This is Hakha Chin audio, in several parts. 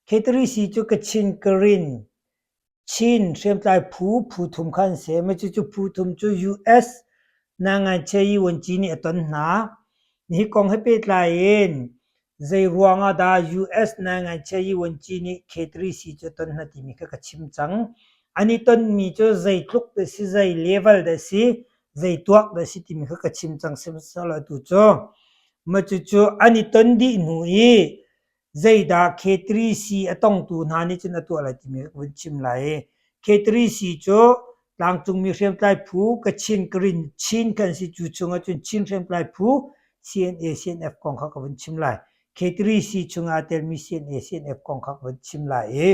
Khetri cu Kachin Karin, Chin hriamtlai phu phu thum kha an si. Cucu phu thum cu US Nangaiche Yuanci nih a ton hna. Nihi kong he pehtlai in zeiruang ah dah US Nangaiche Yuanci nih khetri cu a ton hna timi kha ka chim cang. An i tonmi cu zeitluk dah a si, zei level dah a si, zei tuak dah si timi kha ka chim cang sihmanhsehlaw atu cu ma cucu an i ton dih hnu i zeidah K3C a tongtu hna nih cun a tuah lai timi ka vun chim lai i K3C cu tlangcungmi hriamtlai phu Kachin Karin Chin kan si cu chungah cun Chin hriamtlai phu CNA CNF kong kha ka vun chim lai K3C chungah aa telmi CNA CNF kong kha ka vun chim lai i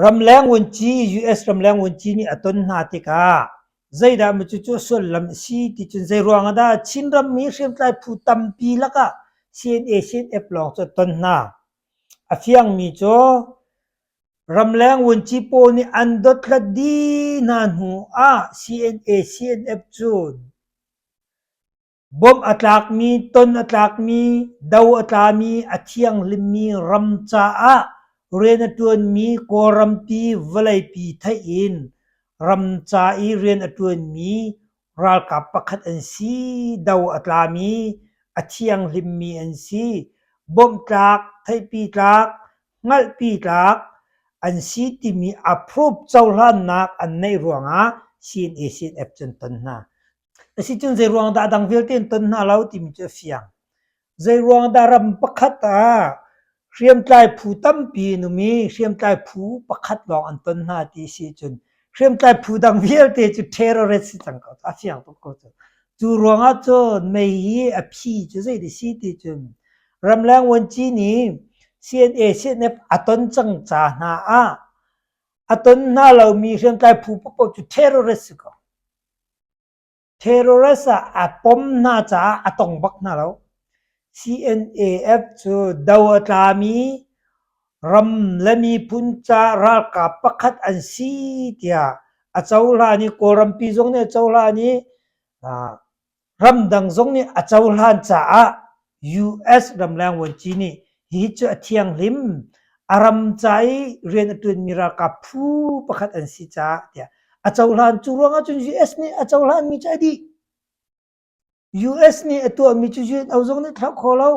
Ramleng vunci US ramleng vunci nih a ton hna tikah zeidah maw cucu a sullam a si ti cun zeiruang ah dah Chin rammi hriamtlai phu tampi lakah CNA CNF lawng cu a ton hna. A fiangmi cu ramleng vunci pawl nih an dothlat dih hna hnu ah CNA CNF cu Bawmh a tlakmi, ton a tlakmi, do a tlami, a thianghlimmi ram caah rian a ṭuanmi Kawlram ti vawleipi theih in ram ca i rian a ṭuanmi ralkap pakhat an si. Do a tlami, a thianghlimmi an si. Bawmh tlak, theihpi tlak, hngalhpi tlak an si timi approve cohlannak an neih ruangah CNA-CNF cu an ton hna. Asicun zeiruang dah dang vialte an ton hna lo timi cu a fiang. Zeiruang dah ram pakhat ah hriamtlai phu tampi an um i hriamtlai phu pakhat lawng an ton hna ti si cun hriamtlai phu dang vialte cu terrorist si cang ko cu, a fiang tuk ko cu. Cu ruangah cun mei hi a phi cu zeiti si ti cun ramleng vuanci nih CNA CNF a ton cang ca hna ah a ton hna lomi hriamtlai phu paohpaoh cu terrorist si ko. Terrorist ah aa pom hna caah a tong bak hna lo. CNAF cu do a tlami ram le miphun caah ralkap pakhat an si tiah a cohlan i Kawlrampi zong nih a cohlan i Ramdang zong nih a cohlan caah US ramleng vuanci nih hihi cu a thianghlim. A ram ca i rian a ṭuanmi ralkap phu pakhat an si caah tiah a cohlan. Cu ruangah cun US nih a cohlanmi cu a dih. US nih a tuahmi cu UNO zong nih thlauh kho lo.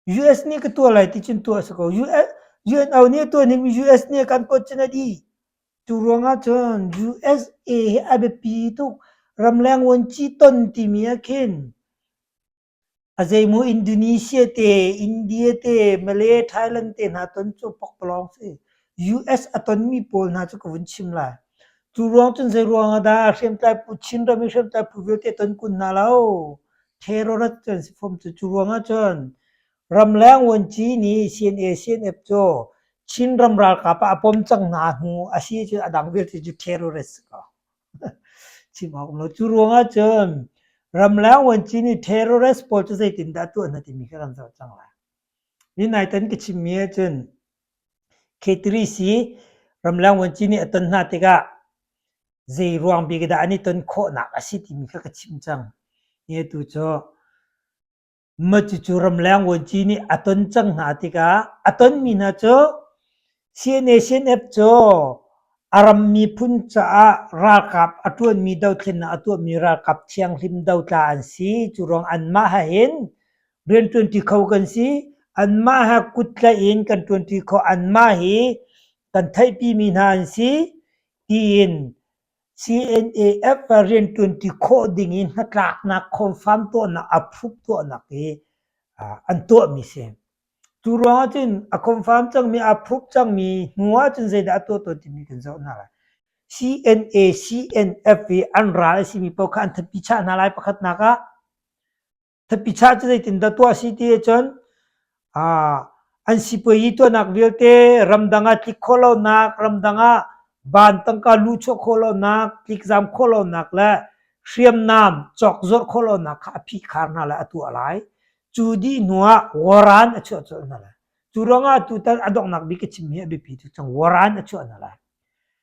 US nih ka tuah lai ti cun tuah a si ko. UNO nih a tuah ningmi US nih a kan pawt cun a dih. Cu ruangah cun USA hi a biapi tuk. Ramleng vuanci ton timi ah khin a zeimaw Indonesia te, India te, Malay, Thailand te hna ton cu pakpalawng si. US a tonmi pawl hna cu ka vun chim lai. Cu ruang cun zei ruangah dah hriamtlai pu Chin ram i hriamtlai pu vialte ton kun hna lo. Terrorist an si fom cu. Cu ruangah cun ramleng vuanci nih CNA CNF cu Chin ram ralkap ah a pom cang hna hnu a si cu a dang vialte cu terrorist a si ko. Chim awk um lo. Cu ruangah cun ramleng vuanci nih terrorist pawl cu zeitin dah tuah hna timi kha kan zoh cang lai. Ni nai tan ka chimmi ahcun Khetrisi ramleng vuanci nih a ton hna tikah zei ruang bik dah an i ton khawhnak a si timi kha ka chimh cang. Hi atu cu mah cucu ramleng vuanci nih a ton cang hna tikah a tonmi hna cu CNSNF cu a ram miphun caah ralkap a ṭuanmi dothlennak a tuahmi ralkap thianghlim dotla an si. Cu ruang anmah ha hin Rian ṭuanṭi kho kan si. Anmah ha kut tlaih in kan ṭuanṭi khawh. Anmah hi kan theihpimi hna an si tiin CNAF ah rian ṭuanṭi khawh ding i hnatlaknak, confirm tuahnak, approve tuahnak hi an tuahmi si. Cu ruangah cun a confirm cangmi, approve cangmi hnu ahcun zeidah a tuah tawn timi kan zoh hna lai. CNA, CNF i an ral a simi paoh kha an thatpi chah hna lai pakhatnak ah. Thapitsa cu zeitindah tuah si ti ahcun an sipuayi tuahnak vialte ramdang ah tlik khawh lonak, ramdang ah van tangka lu chuah khawh lonak, tlikzam khawh lonak le hriamnam cawkzorh khawh lonak kha a phihkhar hna le a tuah lai. Cu dih hnuah waran a chuah colh hna lai. Cu ruangah tutan a donghnak bik a chim hi a biapi tuk cang. Waran a chuah hna lai.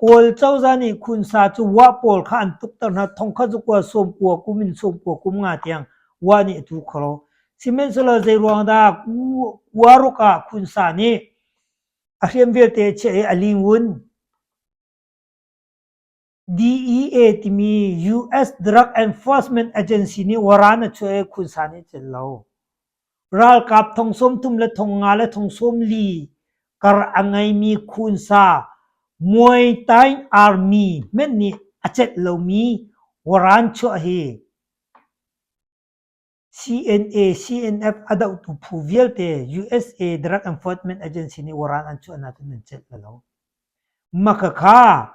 Kawl cozah nih khunsa cu wah pawl kha an tukter hna, thongkhat cu kua sawm kua kum in sawm kua kum nga tiang wah nih a tu kho lo. Sihmanhsehlaw zeiruang dah kua ruk ah khunsa nih a hriam vialte a chiah i a lingwun DEA timi US Drug Enforcement Agency nih waran a chuah i khunsa nih a celh lo. Ralkap thong sawmthum le thong nga le thong sawm li kar a ngeimi khunsa Muay-Thai Army hmenh nih a cenh lomi waran chuah hi CNA CNF a dohtu phu vialte USA Drug Enforcement Agency nih waran an chuahnak in an celh la lo. Makhakha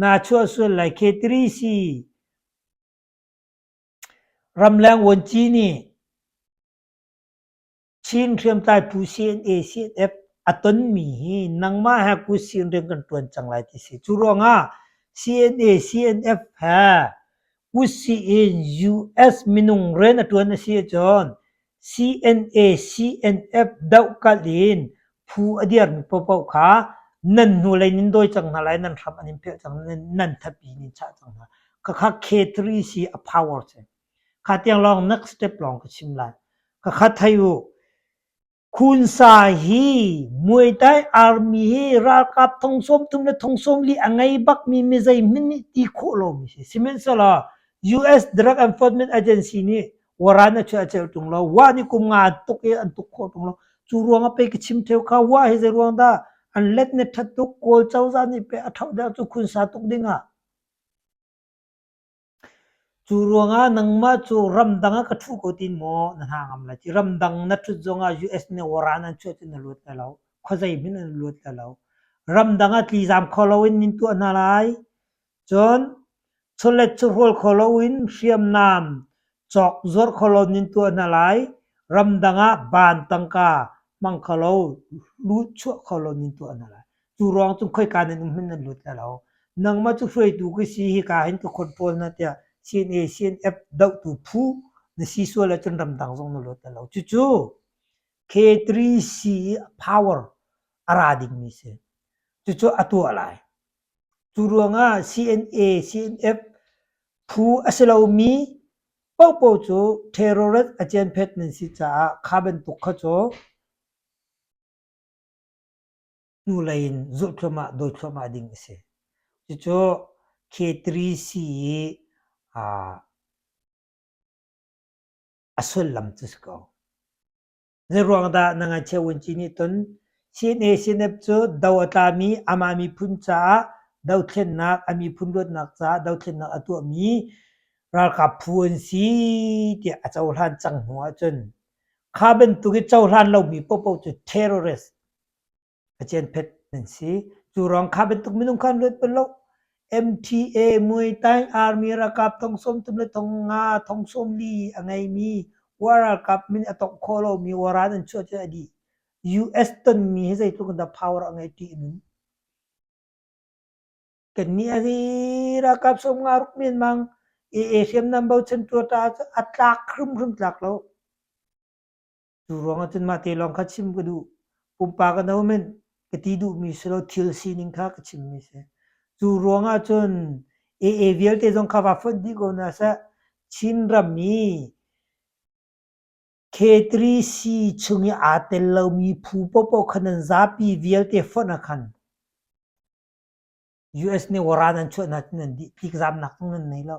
Naa chuah sual lai khe tiri si. Ramleng vuanci nih Chin hriamtlai phu CNA CNF a tonmi hi nangmah he kut sin rian kan ṭuan cang lai ti si. Cu ruangah CNA CNF he kut sih in US minung rian a ṭuan a si ahcun CNA CNF dohkalh in phu a dirmi paohpaoh kha nan hnulei in dawi cang hna lai, nan hram an in philh cang, nan thatpi in in chah cang hna. Khakha K3 si a power si. Kha tiang lawng next step lawng ka chim lai. Khakha thai u. Khunsa hi Muay Thai Army hi ralkap thongsawm tum le thongsawm li a ngei bakmi mi zei min nih ti khawh lomi si. Sihmanhsehlaw US Drug Enforcement Agency nih Wara na chia a ceu tung lo. Wa nih kum nga tuk i an tuk khawh tung lo. Cu ruang ah pei ka chim theo kha wa hi zei ruang dah an let ne tthat tuk Kawl cozah nih pei a thauh deuh cu khunsa tuk ding ah. Cu ruang ah nangmah cu ramdang ah ka thu ko tin maw na hna ngam lai ci. Ramdang na thut zong ah US nih wara nan chuah cu na luat lai lo. Khuazei hmin in na luat lai lo. Ramdang ah tlizaam kho lo in nin tuah hna lai. Cun chawlet cu hrual kho loin hriamnam cawk zuar khawlawn in tuah hna lai; ramdang ah ban tangka hmang kholo lut chuah khawlawn in tuah hna lai. Cu ruang cun khoika nan um hin nan lut lai lo. Nangmah cu hruaitu ka si hika hin ka khawt pawl na tiah CNA CNF dohtu phu na si sual ahcun ramdang zong na lut lai lo. Cucu K3C power a ra dingmi a si. Cucu a tuah lai. Cu ruangah CNA CNF phu a si lomi paohpaoh cu ṭherawrat a cianphet nan si caah kha bantuk kha cu hnulei in zulh thluahmah, dawi thluahmah ding a si. Cucu K3C i a sullam cu si ko. Zeiruang dah na ngakchia uanci nih cun CNA-CNF cu do a tlami amah miphun caah dothlennak, a miphun luatnak caah dothlennak a tuahmi ralkap phu an si tiah a cohlan cang hnu ahcun kha bantuk i cohlan lomi paohpaoh cu terrorist a cianphet nan si. Cu rang kha bantuk minung kha an luat bal lo. MTA Muay Thai Army ralkap thong sawm tum le thong nga thong sawm li a ngeimi war ralkap min a tongh khawh lomi waran an chuah cu a dih. US tonmi hi zeitluk in dah power a ngei ṭih nun. Kan ni a hi ralkap som nga ruk mian mang e e hriam nam bochan tua ta at tlak khrum khrum tlak lo. Cu ruang ah cun mah te lawng kha chim ka duh. Pumpak in ahomen ka ti duhmi si lo thil sining kha ka chimmi si. Cu ruang ah cun AA vialte zong kha va fonh dih ko hna seh. Chin ram i K3C chung i aa tel lomi phu popoh kha nan zapi vialte fonh ah khan US nih waran an chuah hna cu nan dih. Tlikzamnak zong nan nei lo.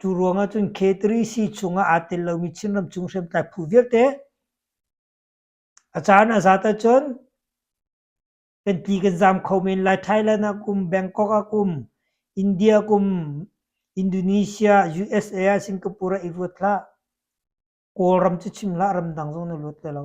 Cu ruang ahcun K3C chungah aa tel lomi Chinram chung hriamtlai phu vialte a caan a zat ahcun kan ti kan zam kho men lai. Thailand ah kum, Bangkok ah kum, India kum, Indonesia, USA ah Singapore ah i ruat hlah. Kawlram cu chim hlah, ramdang zong na luat lai lo.